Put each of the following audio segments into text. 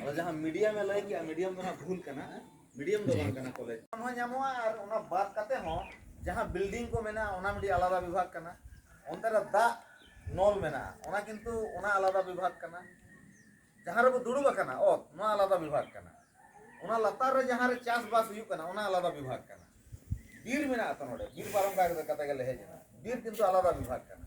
ᱟᱫᱚ ᱡᱟᱦᱟᱸ ᱢᱤᱰᱤᱭᱟᱢ ᱮ ᱞᱟᱹᱭ ᱠᱮᱜᱼᱟ ᱢᱤᱰᱤᱭᱟᱢ ᱫᱚ ᱱᱟᱜ ᱵᱷᱩᱞ ᱠᱟᱱᱟ ᱢᱤᱰᱤᱭᱟᱢ ᱫᱚ ᱵᱟᱝ ᱠᱟᱱᱟ ᱠᱚᱞᱮᱡᱽ ᱦᱚᱸ ᱧᱟᱢᱚᱜᱼᱟ ᱟᱨ ᱚᱱᱟ ᱵᱟᱫ ᱠᱟᱛᱮ ᱦᱚᱸ ᱡᱟᱦᱟᱸ ᱵᱤᱞᱰᱤᱝ ᱠᱚ ᱢᱮᱱᱟᱜᱼᱟ ᱚᱱᱟ ᱢᱤᱫᱴᱤᱡ ᱟᱞᱟᱫᱟ ᱵᱤᱵᱷᱟᱜᱽ ᱠᱟᱱᱟ ᱚᱱᱛᱮ ᱨᱮ ᱫᱟᱜ ᱱᱚᱞ ᱢᱮᱱᱟᱜᱼᱟ ᱚᱱᱟ ᱠᱤᱱᱛᱩ ᱚᱱᱟ ᱟᱞᱟᱫᱟ ᱵᱤᱵᱷᱟᱜᱽ ᱠᱟᱱᱟ ᱡᱟᱦᱟᱸ ᱨᱮᱵᱚ ᱫᱩᱲᱩᱵ ᱟᱠᱟᱱᱟ ᱚᱛ ᱱᱚᱣᱟ ᱟᱞᱟᱫᱟ ᱵᱤᱵᱷᱟᱜᱽ ᱠᱟᱱᱟ ᱚᱱᱟ ᱞᱟᱛᱟᱨ ᱨᱮ ᱡᱟᱦᱟᱸ ᱨᱮ ᱪᱟᱥᱵᱟᱥ ᱦᱩᱭᱩᱜ ᱠᱟᱱᱟ ᱚᱱᱟ ᱟᱞᱟᱫᱟ ᱵᱤᱵᱷᱟᱜᱽ ᱠᱟᱱᱟ ᱵᱤᱨ ᱢᱮᱱᱟᱜᱼᱟ ᱛᱚ ᱱᱚᱰᱮ ᱵᱤᱨ ᱯᱟᱨᱚᱢ ᱠᱟᱛᱮ ᱜᱮᱞᱮ ᱦᱮᱡ ᱮᱱᱟ ᱵᱤᱨ ᱠᱤᱱᱛᱩ ᱟᱞᱟᱫᱟ ᱵᱤᱵᱷᱟᱜᱽ ᱠᱟᱱᱟ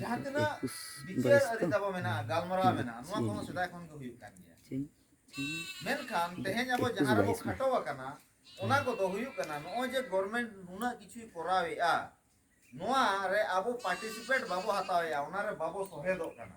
ᱡᱟᱦᱟᱸ ᱛᱤᱱᱟᱹᱜ ᱵᱤᱪᱟᱹᱨ ᱟᱹᱨᱤ ᱛᱟᱵᱚ ᱢᱮᱱᱟᱜᱼᱟ ᱜᱟᱞᱢᱟᱨᱟᱣ ᱢᱮᱱᱟᱜᱼᱟ ᱱᱚᱣᱟ ᱠᱚᱦᱚᱸ ᱥᱮᱫᱟᱭ ᱠᱷᱚᱱ ᱜᱮ ᱦᱩᱭᱩᱜ ᱠᱟᱱ ᱜᱮᱭᱟ ᱢᱮᱱᱠᱷᱟᱱ ᱛᱮᱦᱮᱧ ᱟᱵᱚ ᱡᱟᱦᱟᱸ ᱨᱮᱵᱚ ᱠᱷᱟᱴᱚ ᱟᱠᱟᱱᱟ ᱚᱱᱟ ᱠᱚᱫᱚ ᱦᱩᱭᱩᱜ ᱠᱟᱱᱟ ᱱᱚᱜᱼᱚᱭ ᱡᱮ ᱜᱚᱨᱢᱮᱱᱴ ᱱᱩᱱᱟᱹᱜ ᱠᱤᱪᱷᱩᱭ ᱠᱚᱨᱟᱣᱮᱫᱼᱟ ᱱᱚᱣᱟ ᱨᱮ ᱟᱵᱚ ᱯᱟᱨᱴᱤᱥᱤᱯᱮᱴ ᱵᱟᱵᱚ ᱦᱟᱛᱟᱣᱮᱫᱼᱟ ᱚᱱᱟ ᱨᱮ ᱵᱟᱵᱚ ᱥᱚᱦᱮᱫᱚᱜ ᱠᱟᱱᱟ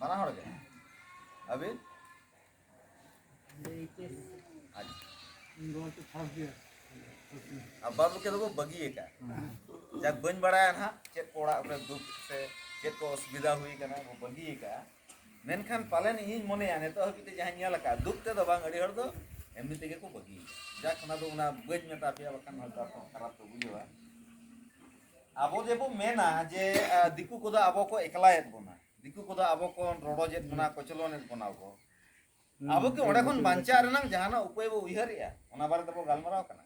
ᱵᱟᱱᱟ ᱦᱚᱲ ᱜᱮ ᱟᱹᱵᱤᱱ ᱟᱨ ᱵᱟᱫ ᱵᱟᱹᱠᱤ ᱫᱚᱠᱚ ᱵᱟᱹᱜᱤ ᱟᱠᱟᱫ ᱡᱟᱠ ᱵᱟᱹᱧ ᱵᱟᱲᱟᱭᱟ ᱱᱟᱦᱟᱜ ᱪᱮᱫ ᱠᱚ ᱚᱲᱟᱜ ᱨᱮ ᱫᱩᱠ ᱥᱮ ᱪᱮᱫ ᱠᱚ ᱚᱥᱩᱵᱤᱫᱷᱟ ᱦᱩᱭ ᱟᱠᱟᱱᱟ ᱠᱚ ᱵᱟᱹᱜᱤ ᱟᱠᱟᱫᱼᱟ ᱢᱮᱱᱠᱷᱟᱱ ᱯᱟᱞᱮᱱ ᱤᱧᱤᱧ ᱢᱚᱱᱮᱭᱟ ᱱᱤᱛᱚᱜ ᱦᱟᱹᱵᱤᱡ ᱛᱮ ᱡᱟᱦᱟᱸᱧ ᱧᱮᱞ ᱟᱠᱟᱫ ᱫᱩᱠ ᱛᱮᱫᱚ ᱵᱟᱝ ᱟᱹᱰᱤ ᱦᱚᱲ ᱫᱚ ᱮᱢᱱᱤ ᱛᱮᱜᱮ ᱠᱚ ᱵᱟᱹᱜᱤ ᱟᱠᱟᱫᱼᱟ ᱡᱟᱠ ᱚᱱᱟ ᱫᱚ ᱚᱱᱟ ᱵᱟᱹᱧ ᱢᱮᱛᱟ ᱯᱮᱭᱟ ᱵᱟᱠᱷᱟᱱ ᱦᱚᱭᱛᱚ ᱟᱯᱮ ᱠᱷᱟᱨᱟᱯ ᱯᱮ ᱵᱩᱡᱷᱟᱹᱣᱟ ᱟᱵᱚ ᱡᱮᱵᱚ ᱢᱮᱱᱟ ᱡᱮ ᱫᱤᱠᱩ ᱠᱚᱫᱚ ᱟᱵᱚ ᱠᱚ ᱮᱠᱞᱟᱭᱮᱫ ᱵᱚᱱᱟ ᱫᱤᱠᱩ ᱠᱚᱫᱚ ᱟᱵᱚ ᱠᱚ ᱨᱚᱰᱚᱡᱮᱫ ᱵᱚᱱᱟ ᱠᱚᱪᱞᱚᱱᱮᱫ ᱵᱚᱱᱟ ᱠᱚ ᱟᱵᱚ ᱠᱤ ᱚᱸᱰᱮ ᱠᱷᱚᱱ ᱵᱟᱧᱪᱟᱜ ᱨᱮᱱᱟᱝ ᱡᱟᱦᱟᱱᱟᱜ ᱩᱯᱟᱹᱭ ᱵᱚ ᱩᱭᱦᱟᱹᱨᱮᱜᱼᱟ ᱚᱱᱟ ᱵᱟᱨᱮ ᱛᱮᱵᱚ ᱜᱟᱞᱢᱟᱨᱟᱣ ᱠᱟᱱᱟ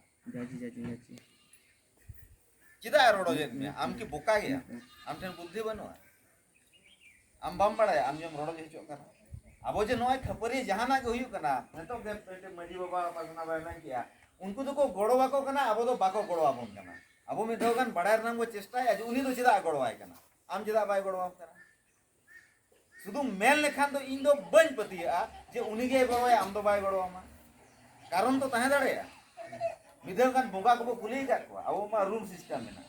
ᱪᱮᱫᱟᱜ ᱨᱚᱰᱚᱡᱮᱫ ᱢᱮᱭᱟ ᱟᱢ ᱠᱤ ᱵᱚᱠᱟ ᱜᱮᱭᱟ ᱟᱢ ᱴᱷᱮᱱ ᱵᱩᱫᱽᱫᱷᱤ ᱵᱟᱹᱱᱩᱜᱼᱟ ᱟᱢ ᱵᱟᱢ ᱵᱟᱲᱟᱭᱟ ᱟᱢ ᱡᱮᱢ ᱨᱚᱲ ᱜᱮ ᱦᱚᱪᱚᱜ ᱠᱟᱱᱟ ᱟᱵᱚ ᱡᱮ ᱱᱚᱜᱼᱚᱭ ᱠᱷᱟᱹᱯᱟᱹᱨᱤ ᱡᱟᱦᱟᱱᱟᱜ ᱜᱮ ᱦᱩᱭᱩᱜ ᱠᱟᱱᱟ ᱱᱤᱛᱚᱜ ᱜᱮ ᱢᱤᱫᱴᱮᱱ ᱢᱟᱺᱡᱷᱤ ᱵᱟᱵᱟ ᱯᱟᱨᱜᱟᱱᱟ ᱵᱟᱭ ᱢᱮᱱ ᱠᱮᱜᱼᱟ ᱩᱱᱠᱩ ᱫᱚᱠᱚ ᱜᱚᱲᱚ ᱟᱠᱚ ᱠᱟᱱᱟ ᱟᱵᱚ ᱫᱚ ᱵᱟᱠᱚ ᱜᱚᱲᱚ ᱟᱵᱚᱱ ᱠᱟᱱᱟ ᱟᱵᱚ ᱢᱤᱫ ᱫᱷᱟᱣ ᱜᱟᱱ ᱵᱟᱲᱟᱭ ᱨᱮᱱᱟᱜ ᱵᱚ ᱪᱮᱥᱴᱟᱭᱟ ᱡᱮ ᱩᱱᱤ ᱫᱚ ᱪᱮᱫᱟᱜ ᱜᱚᱲᱚᱣᱟᱭ ᱠᱟᱱᱟ ᱟᱢ ᱪᱮᱫᱟᱜ ᱵᱟᱭ ᱜᱚᱲᱚᱣᱟᱢ ᱠᱟᱱᱟ ᱥᱩᱫᱷᱩ ᱢᱮᱱ ᱞᱮᱠᱷᱟᱱ ᱫᱚ ᱤᱧ ᱫᱚ ᱵᱟᱹᱧ ᱯᱟᱹᱛᱭᱟᱹᱜᱼᱟ ᱡᱮ ᱩᱱᱤ ᱜᱮ ᱜᱚᱲᱚᱣᱟᱭᱟ ᱟᱢ ᱫᱚ ᱵᱟᱭ ᱜᱚᱲᱚᱣᱟᱢᱟ ᱠᱟᱨᱚᱱ ᱫᱚ ᱛᱟᱦᱮᱸ ᱫᱟᱲᱮᱭᱟᱜᱼᱟ ᱢᱤᱫ ᱫᱷᱟᱣ ᱜᱟᱱ ᱵᱚᱸᱜᱟ ᱠᱚᱵᱚ ᱠᱩᱞᱤ ᱟᱠᱟᱫ ᱠᱚᱣᱟ ᱟᱵᱚ ᱢᱟ ᱨᱩᱞ ᱥᱤᱥᱴᱮᱢ ᱢᱮᱱᱟᱜᱼᱟ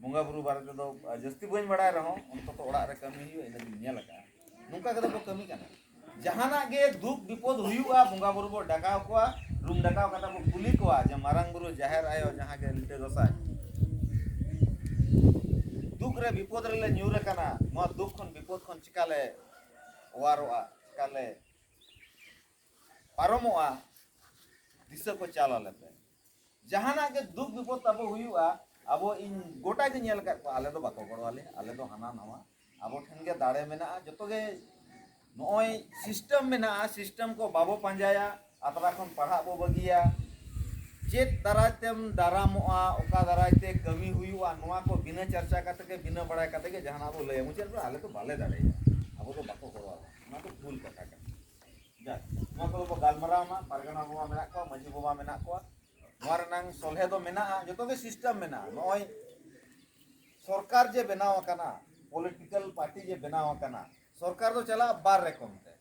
ᱵᱚᱸᱜᱟ ᱵᱩᱨᱩ ᱵᱟᱨᱮ ᱛᱮᱫᱚ ᱡᱟᱹᱥᱛᱤ ᱵᱟᱹᱧ ᱵᱟᱲᱟᱭ ᱨᱮᱦᱚᱸ ᱚᱱᱛᱚᱛᱚ ᱚᱲᱟᱜ ᱨᱮ ᱠᱟᱹᱢᱤ ᱦᱩᱭᱩᱜᱼᱟ ᱤᱱᱟᱹ ᱫᱚᱧ ᱧᱮᱞ ᱟᱠᱟᱫᱼᱟ ᱱᱚᱝᱠᱟ ᱠᱟᱛᱮ ᱵᱚ ᱠᱟᱹᱢᱤ ᱠᱟᱱᱟ ᱡᱟᱦᱟᱱᱟᱜ ᱜᱮ ᱫᱩᱠ ᱵᱤᱯᱚᱫ ᱦᱩᱭᱩᱜᱼᱟ ᱵᱚᱸᱜᱟ ᱵᱩᱨᱩ ᱵᱚ ᱰᱟᱠᱟᱣ ᱠᱚᱣᱟ ᱨᱩᱢ ᱰᱟᱠᱟᱣ ᱠᱟᱛᱮ ᱵᱚ ᱠᱩᱞᱤ ᱠᱚᱣᱟ ᱡᱮ ᱢᱟᱨᱟᱝ ᱵᱩᱨᱩ ᱡᱟᱦᱮᱨ ᱟᱭᱳ ᱡᱟᱦᱟᱸ ᱜᱮ ᱞᱤᱴᱟᱹ ᱜᱚᱸᱥᱟᱭ ᱫᱩᱠ ᱨᱮ ᱵᱤᱯᱚᱫ ᱨᱮᱞᱮ ᱧᱩᱨ ᱟᱠᱟᱱᱟ ᱱᱚᱣᱟ ᱫᱩᱠ ᱠᱷᱚᱱ ᱵᱤᱯᱚᱫ ᱠᱷᱚᱱ ᱪᱤᱠᱟᱞᱮ ᱚᱣᱟᱨᱚᱜᱼᱟ ᱪᱤᱠᱟᱞᱮ ᱯᱟᱨᱚᱢᱚᱜᱼᱟ ᱫᱤᱥᱟᱹ ᱠᱚ ᱪᱟᱞ ᱟᱞᱮ ᱯᱮ ᱡᱟᱦᱟᱱᱟᱜ ᱜᱮ ᱫᱩᱠ ᱵᱤᱯᱚᱫ ᱛᱟᱵᱚ ᱦᱩᱭᱩᱜᱼᱟ ᱟᱵᱚ ᱤᱧ ᱜᱚᱴᱟ ᱜᱮ ᱧᱮᱞ ᱟᱠᱟᱫ ᱠᱚᱣᱟ ᱟᱞᱮ ᱫᱚ ᱵᱟᱠᱚ ᱜᱚᱲᱚ ᱟᱞᱮ ᱟᱞᱮ ᱫᱚ ᱦᱟᱱᱟ ᱱᱟᱣᱟ ᱟᱵᱚ ᱴᱷᱮᱱ ᱜᱮ ᱫᱟᱲᱮ ᱢᱮᱱᱟᱜᱼᱟ ᱡᱚᱛᱚ ᱜᱮ ᱱᱚᱜᱼᱚᱭ ᱥᱤᱥᱴᱮᱢ ᱢᱮᱱᱟᱜᱼᱟ ᱥᱤᱥᱴᱮᱢ ᱠᱚ ᱵᱟᱵᱚ ᱯᱟᱸᱡᱟᱭᱟ ᱟᱛᱨᱟ ᱠᱷᱚᱱ ᱯᱟᱲᱦᱟᱜ ᱵᱚ ᱵᱟᱹᱜᱤᱭᱟ ᱪᱮᱫ ᱫᱟᱨᱟᱭ ᱛᱮᱢ ᱫᱟᱨᱟᱢᱚᱜᱼᱟ ᱚᱠᱟ ᱫᱟᱨᱟᱭ ᱛᱮ ᱠᱟᱹᱢᱤ ᱦᱩᱭᱩᱜᱼᱟ ᱱᱚᱣᱟ ᱠᱚ ᱵᱤᱱᱟᱹ ᱪᱟᱨᱪᱟ ᱠᱟᱛᱮ ᱜᱮ ᱵᱤᱱᱟᱹ ᱵᱟᱲᱟᱭ ᱠᱟᱛᱮ ᱜᱮ ᱡᱟᱦᱟᱱᱟᱜ ᱵᱚ ᱞᱟᱹᱭᱟ ᱢᱩᱪᱟᱹᱫ ᱨᱮ ᱟᱞᱮ ᱫᱚ ᱵᱟᱞᱮ ᱫᱟᱲᱮᱭᱟᱜᱼᱟ ᱟᱵᱚ ᱫᱚ ᱵᱟᱠᱚ ᱜᱚᱲᱚ ᱟᱵᱚᱱᱟ ᱚᱱᱟ ᱫᱚ ᱵᱷᱩᱞ ᱠᱟᱛᱷᱟ ᱠᱟᱱᱟ ᱱᱚᱣᱟ ᱠᱚᱫᱚ ᱵᱚ ᱜᱟᱞᱢᱟᱨᱟᱣ ᱢᱟ ᱯᱟᱨᱜᱟᱱᱟ ᱵᱟᱵᱟ ᱢᱮᱱᱟᱜ ᱠᱚᱣᱟ ᱢᱟᱹᱡᱷᱤ ᱵᱟᱵᱟ ᱢᱮᱱᱟᱜ ᱠᱚᱣᱟ ᱱᱚᱣᱟ ᱨᱮᱱᱟᱝ ᱥᱚᱞᱦᱮ ᱫᱚ ᱢᱮᱱᱟᱜᱼᱟ ᱡᱚᱛᱚ ᱜᱮ ᱥᱤᱥᱴᱮᱢ ᱢᱮᱱᱟᱜᱼᱟ ᱱᱚᱜᱼᱚᱭ ᱥᱚᱨᱠᱟᱨ ᱡᱮ ᱵᱮᱱᱟᱣ ᱟᱠᱟᱱᱟ ᱯᱚᱞᱤᱴᱤᱠᱟᱞ ᱯᱟᱨᱴᱤ ᱡᱮ ᱵᱮᱱᱟᱣ ᱟᱠᱟᱱᱟ ᱥᱚᱨᱠᱟᱨ ᱫᱚ ᱪᱟᱞᱟᱜᱼᱟ ᱵᱟᱨ ᱨᱚᱠᱚᱢ ᱛᱮ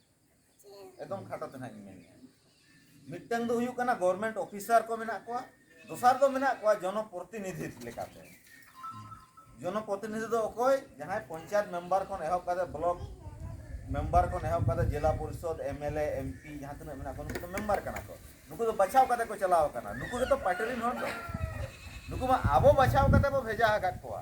ᱮᱠᱫᱚᱢ ᱠᱷᱟᱴᱚ ᱛᱮ ᱱᱟᱦᱟᱜ ᱤᱧ ᱢᱮᱱᱮᱫᱼᱟ ᱢᱤᱫᱴᱟᱝ ᱫᱚ ᱦᱩᱭᱩᱜ ᱠᱟᱱᱟ ᱜᱚᱵᱷᱚᱨᱢᱮᱱᱴ ᱚᱯᱷᱤᱥᱟᱨ ᱠᱚ ᱢᱮᱱᱟᱜ ᱠᱚᱣᱟ ᱫᱚᱥᱟᱨ ᱫᱚ ᱢᱮᱱᱟᱜ ᱠᱚᱣᱟ ᱡᱚᱱᱚ ᱯᱨᱚᱛᱤᱱᱤᱫᱷᱤ ᱞᱮᱠᱟᱛᱮ ᱡᱚᱱᱚ ᱯᱨᱚᱛᱤᱱᱤᱫᱷᱤ ᱫᱚ ᱚᱠᱚᱭ ᱡᱟᱦᱟᱸᱭ ᱯᱚᱧᱪᱟᱭᱮᱛ ᱢᱮᱢᱵᱟᱨ ᱠᱷᱚᱱ ᱮᱦᱚᱵ ᱠᱟᱛᱮ ᱵᱞᱚᱠ ᱢᱮᱢᱵᱟᱨ ᱠᱷᱚᱱ ᱮᱦᱚᱵ ᱠᱟᱛᱮ ᱡᱮᱞᱟ ᱯᱚᱨᱤᱥᱚᱫ ᱮᱢᱮᱞᱮ ᱮᱢᱯᱤ ᱡᱟᱦᱟᱸ ᱛᱤᱱᱟᱹᱜ ᱢᱮᱱᱟᱜ ᱠᱚᱣᱟ ᱱᱩᱠᱩ ᱫᱚ ᱢᱮᱢᱵᱟᱨ ᱠᱟᱱᱟ ᱠᱚ ᱱᱩᱠᱩ ᱫᱚ ᱵᱟᱪᱷᱟᱣ ᱠᱟᱛᱮ ᱠᱚ ᱪᱟᱞᱟᱣ ᱠᱟᱱᱟ ᱱᱩᱠᱩ ᱜᱮᱛᱚ ᱯᱟᱨᱴᱤ ᱨᱮᱱ ᱦᱚᱲ ᱫᱚ ᱱᱩᱠᱩ ᱢᱟ ᱟᱵᱚ ᱵᱟᱪᱷᱟᱣ ᱠᱟᱛᱮ ᱵᱚ ᱵᱷᱮᱡᱟ ᱟᱠᱟᱫ ᱠᱚᱣᱟ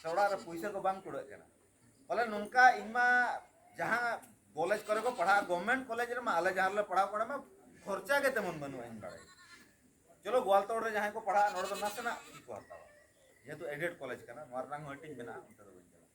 ᱥᱮ ᱚᱲᱟᱜ ᱨᱮ ᱯᱩᱭᱥᱟᱹ ᱠᱚ ᱵᱟᱝ ᱠᱩᱲᱟᱹᱜ ᱠᱟᱱᱟ ᱵᱚᱞᱮ ᱱᱚᱝᱠᱟ ᱤᱧ ᱢᱟ ᱡᱟᱦᱟᱸ ᱠᱚᱞᱮᱡᱽ ᱠᱚᱨᱮ ᱠᱚ ᱯᱟᱲᱦᱟᱜᱼᱟ ᱜᱚᱵᱷᱢᱮᱱᱴ ᱠᱚᱞᱮᱡᱽ ᱨᱮᱢᱟ ᱟᱞᱮ ᱡᱟᱦᱟᱸ ᱨᱮᱞᱮ ᱯᱟᱲᱦᱟᱣ ᱠᱚᱨᱮ ᱢᱟ ᱠᱷᱚᱨᱪᱟ ᱜᱮ ᱛᱮᱢᱚᱱ ᱵᱟᱹᱱᱩᱜᱼᱟ ᱤᱧ ᱵᱟᱲᱟᱭ ᱪᱚᱞᱚ ᱜᱳᱣᱟᱞᱛᱚᱲ ᱨᱮ ᱡᱟᱦᱟᱸᱭ ᱠᱚ ᱯᱟᱲᱦᱟᱜᱼᱟ ᱱᱚᱰᱮ ᱫᱚ ᱱᱟᱥᱮᱱᱟᱜ ᱠᱚ ᱦᱟᱛᱟᱣᱟ ᱡᱮᱦᱮᱛᱩ ᱮᱰᱮᱰ ᱠᱚᱞᱮᱡᱽ ᱠᱟᱱᱟ ᱱᱚᱣᱟ ᱨᱮᱱᱟᱜ ᱦᱚᱸ ᱦᱟᱹᱴᱤᱧ ᱢᱮᱱᱟᱜᱼᱟ ᱚᱱᱛᱮ ᱫᱚ ᱵᱟᱹᱧ ᱪᱟᱞᱟᱜᱼᱟ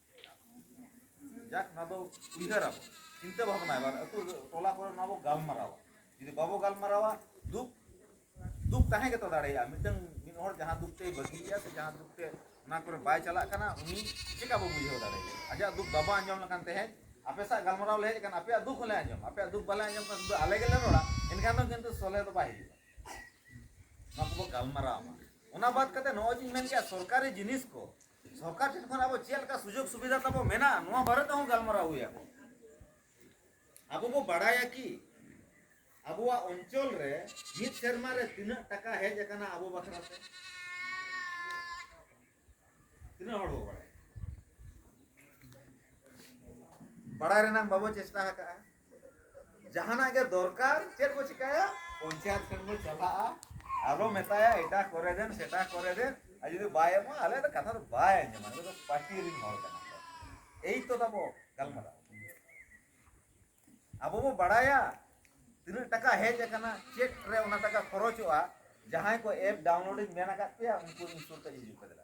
ᱡᱟᱠ ᱱᱚᱣᱟ ᱫᱚ ᱩᱭᱦᱟᱹᱨ ᱟᱵᱚ ᱪᱤᱱᱛᱟᱹ ᱵᱷᱟᱵᱽᱱᱟ ᱮᱵᱟᱨ ᱟᱹᱛᱩ ᱴᱚᱞᱟ ᱠᱚᱨᱮ ᱱᱚᱣᱟ ᱵᱚ ᱜᱟᱞᱢᱟᱨᱟᱣᱟ ᱡᱩᱫᱤ ᱵᱟᱵᱚ ᱜᱟᱞᱢᱟᱨᱟᱣᱟ ᱫᱩᱠ ᱫᱩᱠ ᱛᱟᱦᱮᱸ ᱜᱮᱛᱚ ᱫᱟᱲᱮᱭᱟᱜᱼᱟ ᱢᱤᱫᱴᱟᱝ ᱢᱤᱫ ᱦᱚᱲ ᱡᱟᱦᱟᱸ ᱫᱩᱠ ᱛᱮᱭ ᱵᱟᱹᱜᱤᱭᱮᱫᱼᱟ ᱥᱮ ᱡᱟᱦᱟᱸ ᱫᱩᱠ ᱛᱮ ᱚᱱᱟ ᱠᱚᱨᱮ ᱵᱟᱭ ᱪᱟᱞᱟᱜ ᱠᱟᱱᱟ ᱩᱱᱤ ᱪᱮᱠᱟ ᱵᱚ ᱵᱩᱡᱷᱟᱹᱣ ᱫᱟᱲᱮᱭᱟᱜᱼᱟ ᱟᱡᱟᱜ ᱫᱩᱠ ᱵᱟᱵᱚ ᱟᱸᱡᱚᱢ ᱞᱮᱠᱷᱟᱱ ᱛᱮᱦᱮᱧ ᱟᱯᱮ ᱥᱟᱜ ᱜᱟᱞᱢᱟᱨᱟᱣ ᱞᱮ ᱦᱮᱡ ᱟᱠᱟᱱᱟ ᱟᱯᱮᱭᱟᱜ ᱫᱩᱠ ᱦᱚᱸᱞᱮ ᱟᱸᱡᱚᱢᱟ ᱟᱯᱮᱭᱟᱜ ᱫᱩᱠ ᱵᱟᱞᱮ ᱟᱸᱡᱚᱢ ᱠᱷᱟᱱ ᱥᱩᱫᱷᱩ ᱟᱞᱮ ᱜᱮᱞᱮ ᱨᱚᱲᱟ ᱮᱱᱠᱷᱟᱱ ᱫᱚ ᱠᱤᱱᱛᱩ ᱥᱚᱞᱦᱮ ᱫᱚ ᱵᱟᱭ ᱦᱤᱡᱩᱜᱼᱟ ᱱᱚᱣᱟ ᱠᱚᱵᱚ ᱜᱟᱞᱢᱟᱨᱟᱣ ᱢᱟ ᱚᱱᱟ ᱵᱟᱫ ᱠᱟᱛᱮ ᱱᱚᱜᱼᱚᱭ ᱡᱤᱧ ᱢᱮᱱ ᱠᱮᱫᱼᱟ ᱥᱚᱨᱠᱟᱨᱤ ᱡᱤᱱᱤᱥ ᱠᱚ ᱥᱚᱨᱠᱟᱨ ᱴᱷᱮᱱ ᱠᱷᱚᱱ ᱟᱵᱚ ᱪᱮᱫ ᱞᱮᱠᱟ ᱥᱩᱡᱳᱜᱽ ᱥᱩᱵᱤᱫᱷᱟ ᱛᱟᱵᱚ ᱢᱮᱱᱟᱜᱼᱟ ᱱᱚᱣᱟ ᱵᱟᱨᱮ ᱛᱮᱦᱚᱸ ᱜᱟᱞᱢᱟᱨᱟᱣ ᱦᱩᱭ ᱟᱠᱚ ᱟᱵᱚ ᱵᱚ ᱵᱟᱲᱟᱭᱟ ᱠᱤ ᱟᱵᱚᱣᱟᱜ ᱚᱧᱪᱚᱞ ᱨᱮ ᱢᱤᱫ ᱥᱮᱨᱢᱟ ᱨᱮ ᱛᱤᱱᱟᱹᱜ ᱴᱟᱠᱟ ᱦᱮᱡ ᱟᱠᱟᱱᱟ ᱟᱵᱚ ᱵᱟᱠᱷᱨᱟ ᱛᱮ ᱛᱤᱱᱟᱹᱜ ᱦᱚᱲ ᱵᱚ ᱵᱟᱲᱟᱭᱟ ᱵᱟᱲᱟᱭ ᱨᱮᱱᱟᱜ ᱵᱟᱵᱚ ᱪᱮᱥᱴᱟ ᱟᱠᱟᱫᱼᱟ ᱡᱟᱦᱟᱱᱟᱜ ᱜᱮ ᱫᱚᱨᱠᱟᱨ ᱪᱮᱫ ᱵᱚ ᱪᱤᱠᱟᱹᱭᱟ ᱯᱚᱧᱪᱟᱭᱮᱛ ᱴᱷᱮᱱ ᱵᱚ ᱪᱟᱞᱟᱜᱼᱟ ᱟᱨᱚ ᱢᱮᱛᱟᱭᱟ ᱮᱴᱟ ᱠᱚᱨᱮ ᱫᱮᱱ ᱥᱮᱴᱟ ᱠᱚᱨᱮ ᱫᱮᱱ ᱟᱨ ᱡᱩᱫᱤ ᱵᱟᱭ ᱮᱢᱟ ᱟᱞᱮ ᱫᱚ ᱠᱟᱛᱷᱟ ᱫᱚ ᱵᱟᱭ ᱟᱸᱡᱚᱢᱟ ᱱᱩᱠᱩ ᱫᱚ ᱯᱟᱹᱴᱤ ᱨᱤᱱ ᱦᱚᱲ ᱠᱟᱱᱟ ᱠᱚ ᱮᱭ ᱛᱚ ᱛᱟᱵᱚ ᱜᱟᱞᱢᱟᱨᱟᱣ ᱟᱵᱚ ᱵᱚ ᱵᱟᱲᱟᱭᱟ ᱛᱤᱱᱟᱹᱜ ᱴᱟᱠᱟ ᱦᱮᱡ ᱟᱠᱟᱱᱟ ᱪᱮᱫ ᱨᱮ ᱚᱱᱟ ᱴᱟᱠᱟ ᱠᱷᱚᱨᱚᱪᱚᱜᱼᱟ ᱡᱟᱦᱟᱸᱭ ᱠᱚ ᱮᱯ ᱰᱟᱣᱩᱱᱞᱳᱰ ᱤᱧ ᱢᱮᱱ ᱟᱠᱟᱫ ᱯᱮᱭᱟ ᱩᱱᱠᱩ ᱤᱧ ᱥᱩᱨ ᱛᱮ ᱦᱤᱡᱩᱜ ᱯᱮ ᱫᱮᱞᱟ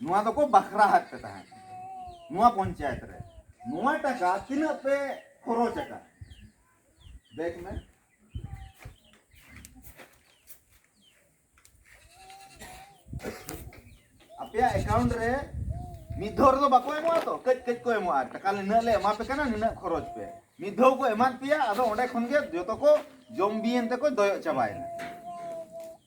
ᱱᱚᱣᱟ ᱫᱚᱠᱚ ᱵᱟᱠᱷᱨᱟ ᱦᱟᱛ ᱯᱮ ᱛᱟᱦᱮᱸ ᱱᱚᱣᱟ ᱯᱚᱧᱪᱟᱭᱮᱛ ᱨᱮ ᱱᱚᱣᱟ ᱴᱟᱠᱟ ᱛᱤᱱᱟᱹᱜ ᱯᱮ ᱠᱷᱚᱨᱚᱪ ᱟᱠᱟᱫ ᱫᱮᱠ ᱢᱮ ᱟᱯᱮᱭᱟᱜ ᱮᱠᱟᱣᱩᱱᱴ ᱨᱮ ᱢᱤᱫ ᱫᱷᱟᱣ ᱨᱮᱫᱚ ᱵᱟᱠᱚ ᱮᱢᱚᱜᱼᱟ ᱛᱚ ᱠᱟᱹᱡ ᱠᱟᱹᱡ ᱠᱚ ᱮᱢᱚᱜᱼᱟ ᱴᱟᱠᱟ ᱱᱤᱱᱟᱹᱜ ᱞᱮ ᱮᱢᱟ ᱯᱮ ᱠᱟᱱᱟ ᱱᱤᱱᱟᱹᱜ ᱠᱷᱚᱨᱚᱪ ᱯᱮ ᱢᱤᱫ ᱫᱷᱟᱣ ᱠᱚ ᱮᱢᱟᱫ ᱯᱮᱭᱟ ᱟᱫᱚ ᱚᱸᱰᱮ ᱠᱷᱚᱱ ᱜᱮ ᱡᱚᱛᱚ ᱠᱚ ᱡᱚᱢ ᱵᱤᱭᱮᱱ ᱛᱮᱠᱚ ᱫᱚᱭᱚᱜ ᱪᱟᱵᱟᱭᱮᱱᱟ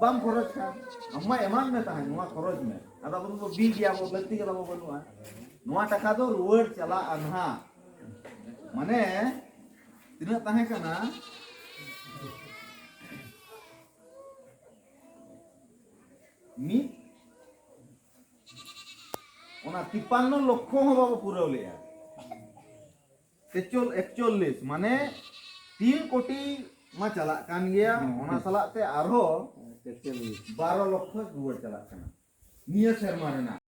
ᱵᱟᱢ ᱠᱷᱚᱨᱚᱪ ᱠᱷᱟᱱ ᱟᱢ ᱢᱟ ᱮᱢᱟᱱ ᱢᱮ ᱛᱟᱦᱮᱸ ᱱᱚᱣᱟ ᱠᱷᱚᱨᱚᱪ ᱢᱮ ᱟᱫᱚ ᱟᱵᱚ ᱫᱚᱵᱚ ᱵᱤ ᱜᱮᱭᱟ ᱵᱚ ᱞᱟᱹᱠᱛᱤ ᱜᱮ ᱛᱟᱵᱚ ᱵᱟᱹᱱᱩᱜᱼᱟ ᱱᱚᱣᱟ ᱴᱟᱠᱟ ᱫᱚ ᱨᱩᱣᱟᱹᱲ ᱪᱟᱞᱟᱜᱼᱟ ᱱᱟᱦᱟᱜ ᱢᱟᱱᱮ ᱛᱤᱱᱟᱹᱜ ᱛᱟᱦᱮᱸ ᱠᱟᱱᱟ ᱢᱤᱫ ᱚᱱᱟ ᱛᱤᱯᱟᱱᱱᱚ ᱞᱚᱠᱷᱚ ᱦᱚᱸ ᱵᱟᱵᱚ ᱯᱩᱨᱟᱹᱣ ᱞᱮᱜᱼᱟ ᱛᱮᱪᱚᱞ ᱮᱠᱪᱚᱞᱞᱤᱥ ᱢᱟᱱᱮ ᱛᱤᱱ ᱠᱳᱴᱤ ᱢᱟ ᱪᱟᱞᱟᱜ ᱠᱟᱱ ᱜᱮᱭᱟ ᱚᱱᱟ ᱥᱟᱞᱟᱜ ᱛᱮ ᱟᱨᱦᱚᱸ ᱵᱟᱨᱚ ᱞᱚᱠᱷᱚ ᱨᱩᱣᱟᱹᱲ ᱪᱟᱞᱟᱜ ᱠᱟᱱᱟ ᱱᱤᱭᱟᱹ ᱥᱮᱨᱢᱟ ᱨᱮᱱᱟᱜ